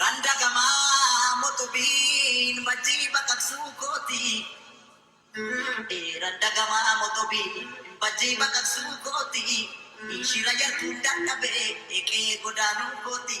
Randa gama motobiin bajjii baqaqsuu kooti. Randa gama motobiin bajjii baqaqsuu kooti. Shira yartuun dadhabee qe'ee godaanuu kooti.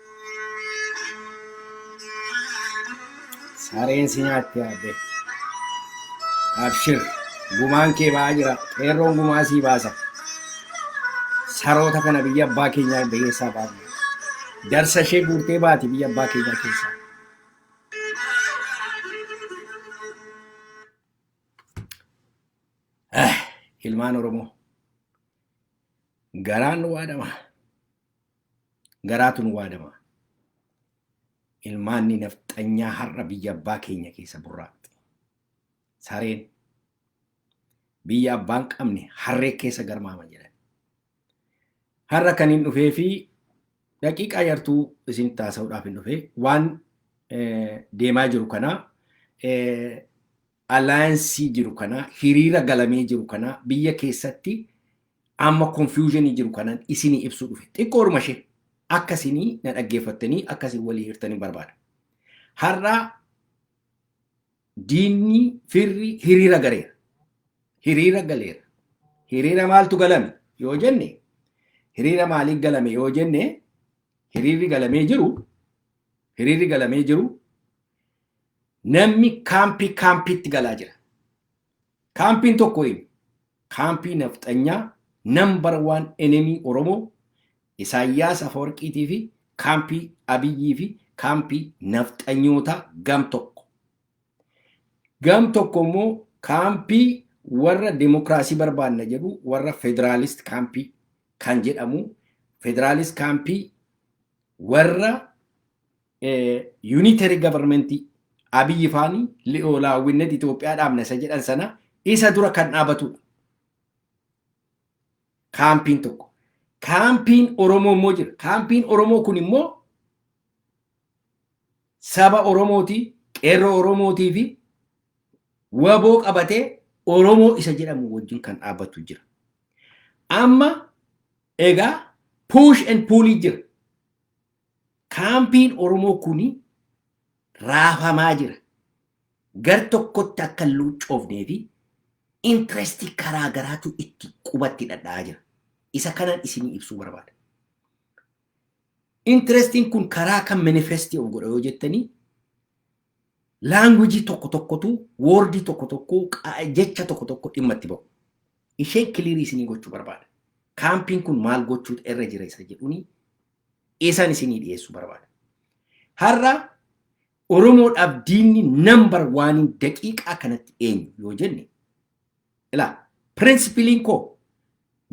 Sareen si nyaatti yaadde. Abshir gumaan kee ba'aa jira. Qeerroon gumaa sii baasa. Saroota kana biyya abbaa keenyaa keessaa baafne. Jarsa ishee guurtee baati biyya abbaa keenyaa keessaa. Eh, Ilmaan Oromoo garaan nu waadama. Garaatu nu waadama. Ilmaanni nafxanyaa har'a biyya abbaa keenya keessa burraaqxi. Sareen biyya abbaan qabne harree keessa garmaama jedhan. Har'a kan hin dhufee fi daqiiqaa yartuu isin taasisuudhaaf hin dhufee waan deemaa jiru kanaa alliance jiru kana hiriira galamee jiru kana biyya keessatti amma confusion jiru kanan isinii ibsuu dhufe xiqqoodhuma ishee akka isinii na dhaggeeffattanii akka isin walii hirtanii barbaada. Har'a diinni firri hiriira galeera. Hiriira galeera. Hiriira maaltu galame yoo jenne hiriira maaliif galame yoo jenne hiriirri galamee jiru hiriirri galamee jiru Namni kaampii kaampiitti galaa jira. Kaampiin tokko eenyu? Kaampii nafxanyaa nambar waan enemii Oromoo Isaayyaas Afawarqiitii fi kaampii Abiyyii fi kaampii nafxanyootaa gam tokko. Gam tokko immoo kaampii warra demokraasii barbaanna jedhu warra federaalist kaampii kan jedhamu federaalist kaampii warra unitary government Abiy faani li'oolaawwinnet Itoophiyaa dhaabna isa jedhan sana isa dura kan dhaabatudha. Kaampiin tokko. Kaampiin Oromoo immoo jira. Kaampiin Oromoo kun immoo saba Oromooti, qeerroo Oromootii fi waboo qabatee Oromoo isa jedhamu wajjin kan dhaabatu jira. Amma egaa push and pull jira. Kaampiin Oromoo kun raafamaa jira. Gar tokkotti akka hin luuccoofnee fi interest karaa garaatu itti qubatti dhadha'aa jira. Isa kanaan isinii ibsuu barbaada. Interestiin kun karaa kan manifesti of godha yoo jettanii laangwijii tokko tokkotu woordii tokko tokko jecha tokko tokko dhimma itti ba'u. Isheen kiliirii isinii gochuu barbaada. Kaampiin kun maal gochuutu irra jira isa jedhuni Isaan isinii dhiyeessuu barbaada. Har'a Oromoodhaaf diinni nambar waaniin daqiiqaa kanatti eenyu yoo jenne ilaa pirinsipiliin koo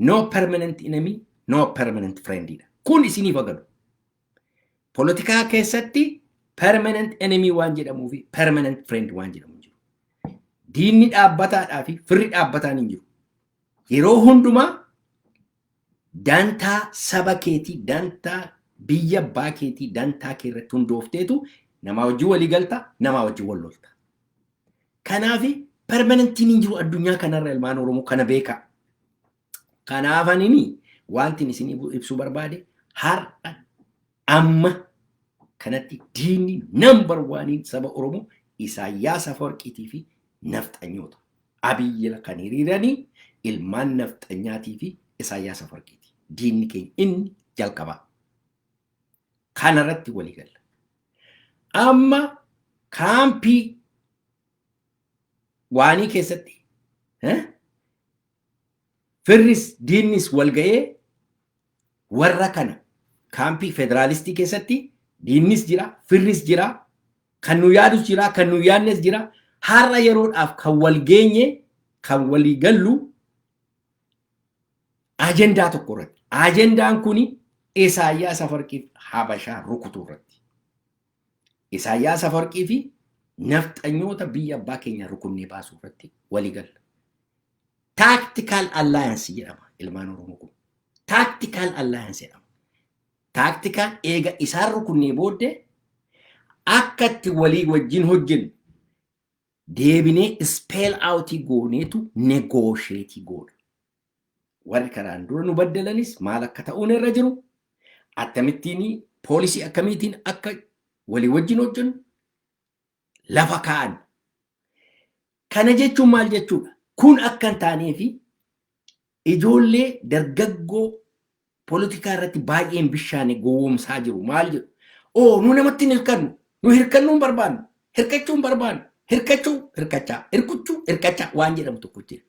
no permanent enemy no permanent friend dha. Kun isiniif agalu. Polotikaa keessatti permanent enemy waan jedhamuu fi permanent friend waan jedhamu hin jiru. Diinni dhaabbataadhaa fi firri dhaabbataan hin jiru. Yeroo hundumaa Dantaa saba keetii, dantaa biyya abbaa keetii, dantaa kee irratti hundoofteetu namaa wajjin walii galta, namaa wajjin wal lolta. Kanaaf permanentiin hin jiru addunyaa kanarra ilmaan Oromoo kana beekaa. Kanaaf anini wantin isin ibsuu barbaade har'a Amma kanatti diinni nambar waaniin saba Oromoo Isaayyaas Afawarqiitii fi nafxanyoota. Abiyyila kan hiriiranii ilmaan nafxanyaatii fi Isaayyaas Afawarqiiti. Diinni keenya inni jalqabaa. Kanarratti walii galla. Amma kaampii waanii keessatti eh, Firris diinnis wal ga'ee warra kana kaampii federaalistii keessatti diinnis jira, firris jira, kan nu yaadus jira, kan nu yaadnes jira. Har'a yeroodhaaf kan wal geenye, kan walii gallu ajendaa tokko irratti. Ajendaan kun Isaayyaas Afarqiif Habashaa rukutuu irratti. Isaayyaas Afawarqii fi nafxanyoota biyya abbaa keenyaa rukunnee baasuu irratti walii galla. Tactical alliance jedhama ilmaan Oromoo kun. Tactical alliance jedhama. Tactical eega isaan rukunnee booddee akka itti walii wajjin hojjennu deebinee spell out gooneetu negotiate goona. warri karaan dura nu baddalanis maal akka ta'uun irra jiru akkamittiin poolisii akkamiitiin akka walii wajjin hojjennu lafa kaa'an. Kana jechuun maal jechuudha? Kun akka hin taanee fi ijoollee dargaggoo poolitikaa irratti baay'een bishaane gowwoomsaa jiru. Maal jedhu? Oo nu namatti hin hirkannu. Nu hirkannuu hin barbaannu. Hirkachuu hin barbaannu. Hirkachuu hirkachaa. Hirkuchuu hirkachaa waan jedhamu tokko jira.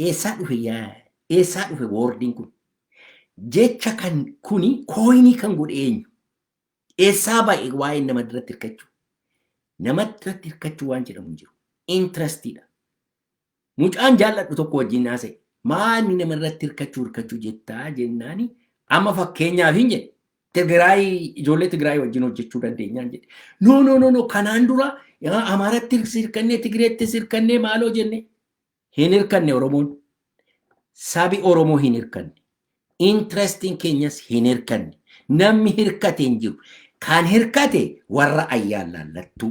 Eessaa dhufe yaa eessaa dhufe woordiin kun? Jecha kan kuni kooyinii kan godhe eenyu? Eessaa ba'e waa'een nama irratti hirkachuu? Nama irratti hirkachuu waan jedhamu hin jiru. Intirestiidha. Mucaan jaalladhu tokko wajjin haasa'e. Maali nama irratti hirkachuu hirkachuu jettaa jennaani amma fakkeenyaaf hin jedhe. Tigraay ijoollee Tigraay wajjin hojjechuu dandeenyaan jedhe. No no no no kanaan dura Amaaratti hirkannee Tigreetti hirkannee maaloo jenne hin hirkanne Oromoon. Sabi Oromoo hin hirkanne. Interestiin keenyas hin hirkanne. Namni hirkate hin jiru. Kan hirkate warra ayyaan laallattuu,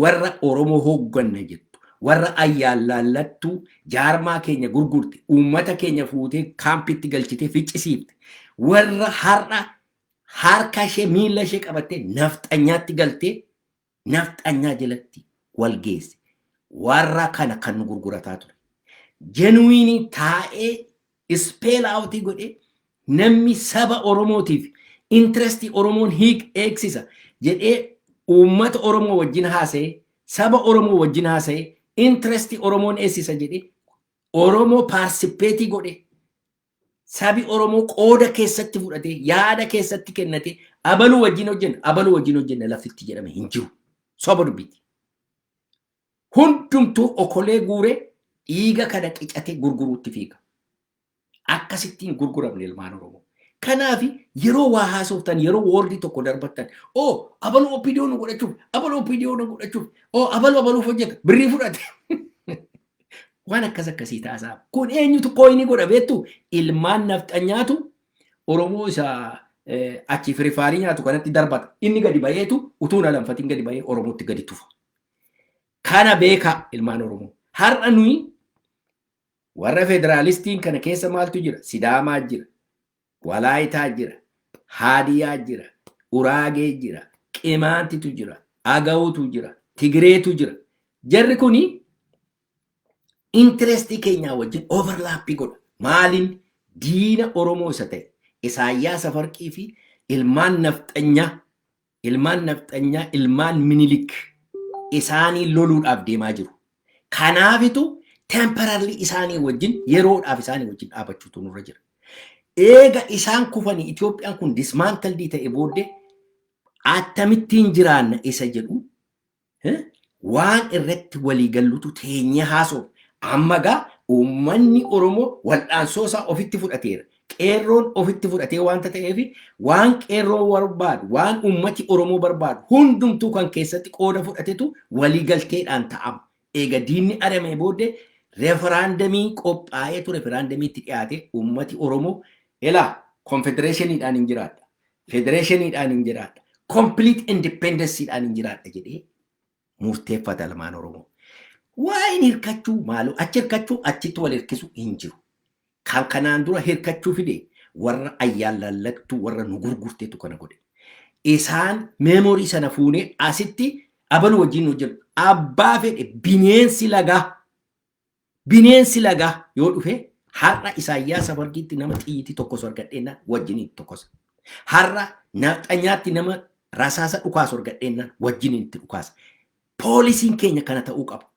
warra Oromoo hoogganna jettu, warra ayyaan laallattuu jaarmaa keenya gurgurte, uummata keenya fuutee kaampitti galchitee ficcisiifte. Warra har'a harka ishee miila ishee qabattee nafxanyaatti galtee nafxanyaa jalatti wal geesse. Warra kana kan nu gurgurataa ture. Jenuwiinii taa'ee ispeel aawutii godhee namni saba Oromootiif intirestii Oromoon hiik eegsisa jedhee uummata Oromoo wajjin haasa'ee saba Oromoo wajjin haasa'ee intirestii Oromoon eessisa jedhee Oromoo paarsipeetii godhee Sabi Oromoo qooda keessatti fudhatee, yaada keessatti kennatee, abaluu wajjin hojjenna, abaluu wajjin hojjenna lafitti jedhame hin jiru. Soba dubbiiti. Hundumtuu okolee guuree dhiiga kana qicatee gurguruutti fiiga. Akkasittiin gurguramne ilmaan Oromoo. Kanaaf yeroo waa haasoftan, yeroo woordii tokko darbattan, oo abaluu OPDO nu godhachuuf, abaluu OPDO nu godhachuuf, oo abaluu abaluuf hojjeta, birrii fudhate. Waan akkas akkasii taasaa. Kun eenyutu kooyinii godha beektu ilmaan nafxanyaatu Oromoo isa achi firifaarii nyaatu kanatti darbata. Inni gadi bayeetu utuu na lamfatiin gadi bayee Oromootti gadi tufa. Kana beekaa ilmaan Oromoo. Har'a nuyi warra federaalistiin kana keessa maaltu jira? Sidaamaa jira. Walaayitaa jira, Haadiyaa jira, Uraagee jira, Qimaantitu jira, Agawutu jira, Tigireetu jira. Jarri kuni intirestii keenyaa wajjin overlaappii godha. Maaliin diina Oromoo isa ta'e Isaayyaas Afarqii fi ilmaan nafxanyaa Ilmaan nafxanyaa ilmaan minilik isaanii loluudhaaf deemaa jiru. Kanaafitu temporarily isaanii wajjin yeroodhaaf isaanii wajjin dhaabachuutu nurra jira. Eega isaan kufanii Itoophiyaan kun dismantled ta'e booddee attamittiin jiraanna isa jedhu waan irratti walii gallutu teenyee haasofne. Amma gaa uummanni Oromoo wal'aansoo isaa ofitti fudhateera. Qeerroon ofitti fudhatee waanta ta'eef waan qeerroo barbaadu, waan uummati Oromoo barbaadu hundumtuu kan keessatti qooda fudhatetu walii galteedhaan ta'ama. Eega diinni aramee booddee referaandamii qophaa'ee ture referaandamiitti dhiyaatee uummati Oromoo elaa konfedereeshiniidhaan hin jiraadha. Federeeshiniidhaan hin jiraadha. Complete independencyidhaan hin jiraadha jedhee murteeffata ilmaan Oromoo. Waa'een hirkachuu maaloo achi hirkachuu achitti wal hirkisu hin jiru. Kan kanaan dura hirkachuu fide warra ayyaan lallagtuu warra nu gurgurtetu kana godhe. Isaan meemorii sana fuunee asitti abaluu wajjin hojjennu abbaa fedhe bineensi lagaa Bineensi lagaa yoo dhufe har'a Isaayyaas Afargiitti nama xiyyitii tokkosu argadheennaan wajjiniin tokkosa. Har'a nafxanyaatti nama rasaasa dhukaasu argadheennaan wajjiniin itti dhukaasa. Poolisiin keenya kana ta'uu qaba.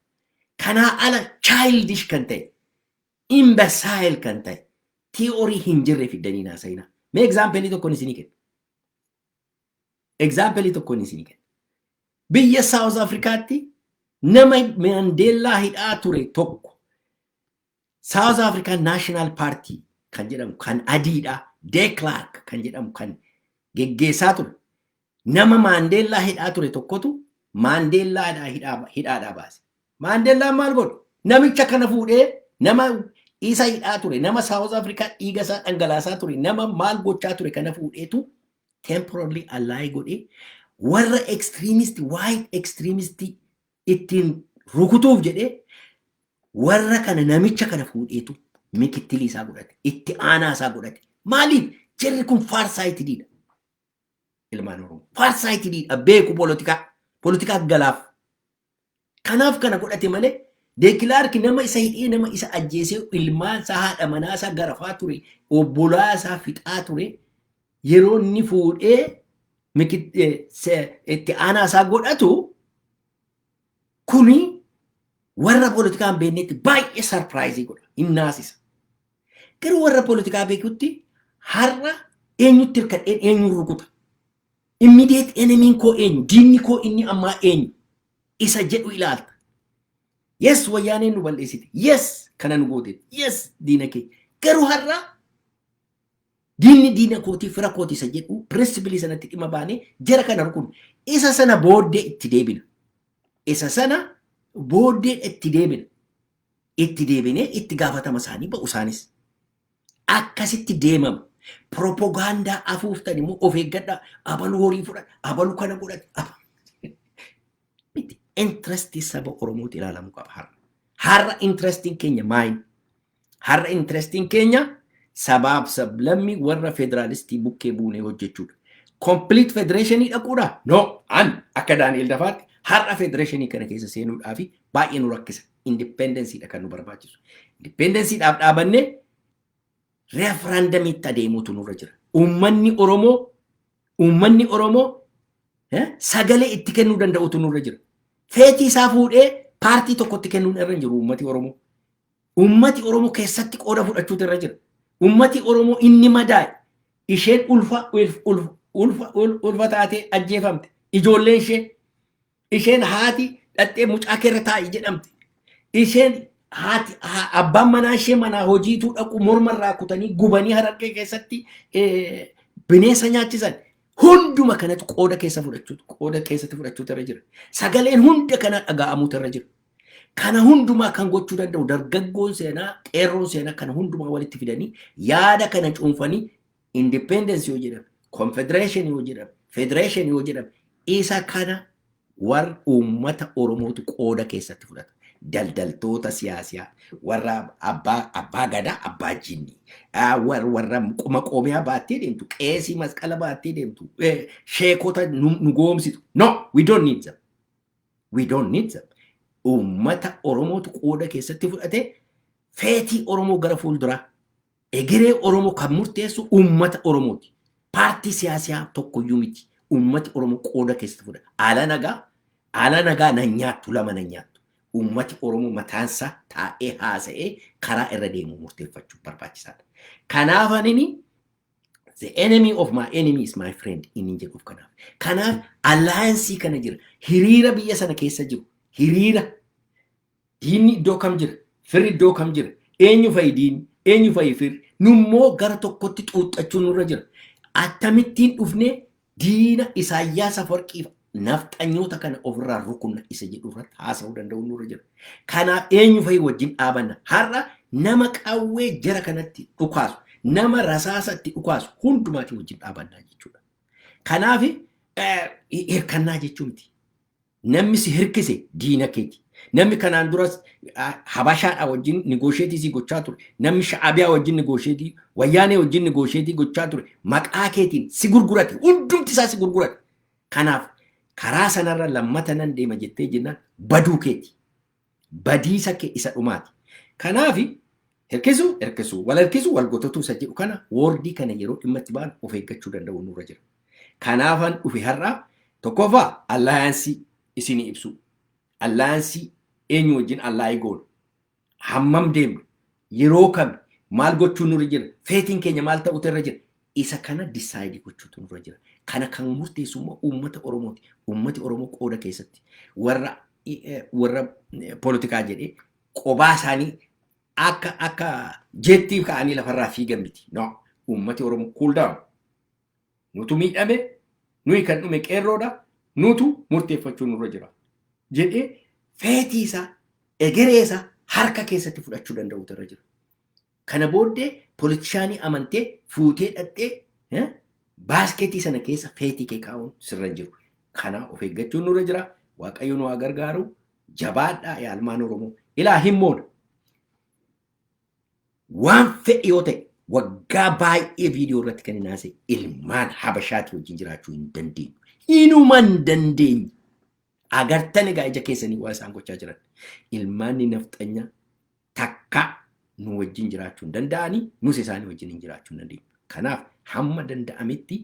Kanaa ala childish kan ta'e, imbecile kan ta'e, tii'orii hin jirre fiddanii naasayina. Mee egzaampelii tokkoon isinii kenna. Egzaampelii tokkoon isinii kenna. Biyya Saawuz Afrikaatti nama Maandeellaa hidhaa ture tokko Saawuz Afrikaan Naashinaal Paartii kan jedhamu kan adiidha. Deeklaark kan jedhamu kan geggeessaa ture. Nama Maandeellaa hidhaa ture tokkotu Maandeellaadhaa hidhaa- hidhaadhaa baase. Maandeellaan maal godhe? Namicha kana fuudhee nama isa hidhaa ture, nama Saawuz Afrikaa dhiiga isaa dhangalaasaa ture, nama maal gochaa ture kana fuudheetu temporarily ally godhe warra extremist white extremist ittiin rukutuuf jedhee warra kana namicha kana fuudheetu mikittilii isaa godhate itti aanaa isaa godhate maaliif jarri kun faarsaayitidiidha ilmaan oromoo faarsaayitidiidha beeku polotikaa polotikaa galaaf Kanaaf kana godhate malee Deekilaarki nama isa hidhee nama isa ajjeesee ilmaan isaa haadha manaa isaa garafaa ture obbolaa isaa fixaa ture yeroo inni fuudhee itti aanaa isaa godhatu kuni warra politikaan beeknetti baay'ee sarpiraayizii godha hin naasisa. Garuu warra poolitikaa beekutti har'a eenyutti hirkadheen eenyuun rukuta. Immediate enemy koo eenyu? Diinni koo inni ammaa eenyu? Isa jedhu ilaalta. Yes wayyaaneen nu balleessite. Yes kana nu gooteef. Yes diina kee. Garuu har'a diinni diina kootii fira kooti isa jedhu pirinsipilii sanatti dhimma baanee jara kana rukun. Isa sana booddee itti deebina. Isa sana booddee itti deebina. itti deebinee itti gaafatama isaanii ba'u isaanis. Akkasitti deemama. Piropogaandaa afuuftan immoo of eeggadhaa abalu horii fudhan abalu kana godhan aba- miti. Intirestii saba Oromootti ilaalamuu qaba har'a. Har'a intirestiin keenya maayin? Har'a intirestiin keenya sabaaf sablammii warra federaalistii bukkee buunee hojjechuudha. Kompiliit federeeshinii dhaquudha? No, an akka Daani'el Dafaatti har'a federeeshinii kana keessa seenuudhaa fi baay'ee nu rakkisa. Independence dha kan nu barbaachisu. Independence dhaaf dhaabannee referendamitti adeemuutu nurra jira. Uummanni Oromoo uummanni Oromoo eh, sagalee itti kennuu danda'utu nurra jira. Feetii isaa fuudhee paartii tokkotti kennuun irra hin jiru uummati Oromoo. Uummati Oromoo keessatti qooda fudhachuutu irra jira. Uummati Oromoo inni madaa'e isheen ulfa ulf- ulf- ulfa ul- ulfa taatee ajjeefamte ijoolleen ishee isheen haati dhaxxee mucaa keerra taa'i jedhamte isheen haati ha- abbaan manaa ishee manaa hojiituu dhaqu morma irraa kutanii gubanii harargee keessatti eh, bineensa nyaachisan hunduma kanatu qooda keessa fudhachuu qooda keessatti fudhachuutu irra jira sagaleen hunda kana dhaga'amuutu irra jira kana hundumaa kan gochuu danda'u dargaggoon seenaa qeerroon seenaa kana hundumaa walitti fidanii yaada kana cuunfanii independence yoo jedhame, confederation yoo jedhame, federation yoo jedhame, isa kana warra uummata Oromootu qooda keessatti fudhata. Daldaltoota siyaasiyaa, warra abbaa, abbaa gadaa, abbaa jinnii, ah, war- warra qoma qoomiyaa baattee deemtu, qeesii masqala baattee deemtu, eh, sheekota nu nu goomsitu. No, we don't need them. We don't need them. Uummata Oromootu qooda keessatti fudhatee feetii Oromoo gara fuulduraa Egeree Oromoo kan murteessu uummata Oromooti. Paartii siyaasiyaa tokkoyyuu miti. Uummati Oromoo qooda keessatti fudha. Ala nagaa, ala nagaa nan nyaattu lama nan nyaattu. Uummati Oromoo mataansaa taa'ee haasa'ee karaa irra deemu murteeffachuu barbaachisaadha. Kanaaf anini the enemy of my enemy is my friend inni jedhuuf kanaaf. Kanaaf alliance kana jira. Hiriira biyya sana keessa jiru. Hiriira Diinni iddoo kam jira? Firri iddoo kam jira? Eenyu fa'i diinni? Eenyu fa'i firri? Nummoo gara tokkotti xuuxxachuun nurra jira. Attamittiin dhufnee diina Isaayyaas Afarqiif nafxanyoota kana ofirraa rukunna isa jedhu irratti haasa'uu danda'uun nurra jira. Kanaaf eenyu fa'i wajjin dhaabanna. Har'a nama qawwee jara kanatti dhukaasu, nama rasaasa itti dhukaasu hundumaatii wajjin dhaabannaa jechuudha. Kanaaf hirkannaa jechuu miti. Namni si hirkise diina keeti. Namni kanaan duras Habashaadhaa wajjin nigoosheetii si gochaa ture. Namni Sha'abiyaa wajjin nigoosheetii, Wayyaanee wajjin nigoosheetii gochaa ture. Maqaa keetiin si gurgurate. Hundumti isaa si gurgurate. Kanaaf karaa sanarra lammata nan deema jettee jennaan baduu keeti. badiisa kee isa dhumaati. Kanaafi hirkisuu hirkisuu, wal harkisuu wal gototuu isa jedhu kana woordii kana yeroo dhimma itti baanu of eeggachuu danda'uun nurra jira. Kanaafan dhufe har'a tokkoffaa allaayansii isinii ibsuu. Allaayansii eenyu wajjin allaayii goonu, hammam deemna, Yeroo kami? Maal gochuun nurra jira? Feetiin keenya maal ta'uutu irra jira? Isa kana decide gochuutu nurra jira. Kana kan murteessu immoo uummata Oromooti. Uummati Oromoo qooda keessatti warra warra poolitikaa jedhee qobaa isaanii akka akka jeettii ka'anii lafarraa fiigan miti. No. Uummati Oromoo cool down. Nutu miidhame, nuyi kan dhume qeerroodha, nutu murteeffachuu nurra jira jedhee feetii isaa, egeree isaa harka keessatti fudhachuu danda'uutu irra jira. Kana booddee politishaanii amantee fuutee dhaqxee eh, baaskeetii sana keessa feetii kee kaa'uun sirra hin jiru. Kana of eeggachuun nurra jira. Waaqayyo nu haa gargaaru. Jabaadhaa yaa ilmaan Oromoo. Ilaa himmoodha. Waan fedhe yoo ta'e waggaa baay'ee viidiyoo irratti kan hin haasa'e ilmaan habashaatii wajjin jiraachuu hin dandeenyu. Hinuma hin dandeenyu. Agartan egaa ija keessanii waa isaan gochaa jiran. Ilmaanni nafxanyaa takka nu wajjin jiraachuu hin danda'anii nus isaanii wajjin hin jiraachuu hin dandeenyu. Kanaaf hamma danda'ametti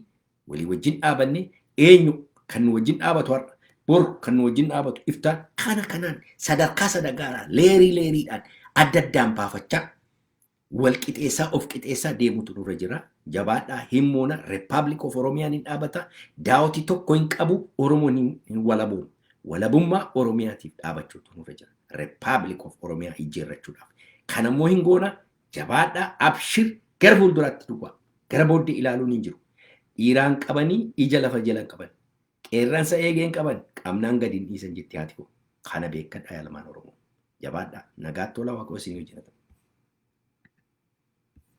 Walii wajjin dhaabannee eenyu kan nu wajjin dhaabatu har'a bor kan nu wajjin dhaabatu iftaan kana kanaan sadarkaa sadagaaraan leerii leeriidhaan adda addaan baafachaa wal qixeessaa of qixeessaa deemutu nurra jira. Jabaadhaa hin moona Republic of Oromiyaan hin dhaabata daawoti tokko hin qabu Oromoon hin, hin walabuun walabummaa Oromiyaatiif dhaabachuutu nurra jira. Republic of Oromiyaa ijjeerrachuudhaaf. Kanammoo hin goona Jabaadhaa abshir gara fuulduraatti duwwaa gara booddee ilaaluun hin jiru. Dhiiraan qabanii ija lafa jalan qaban. Qeerransa eegeen qaban qabnaan gadi hin dhiisan jetti haati koo. Kana beekkadhaa yaa ilmaan Oromoo. Jabaadhaa nagaatti olaa Waaqayyo isin wajjin haa ta'u.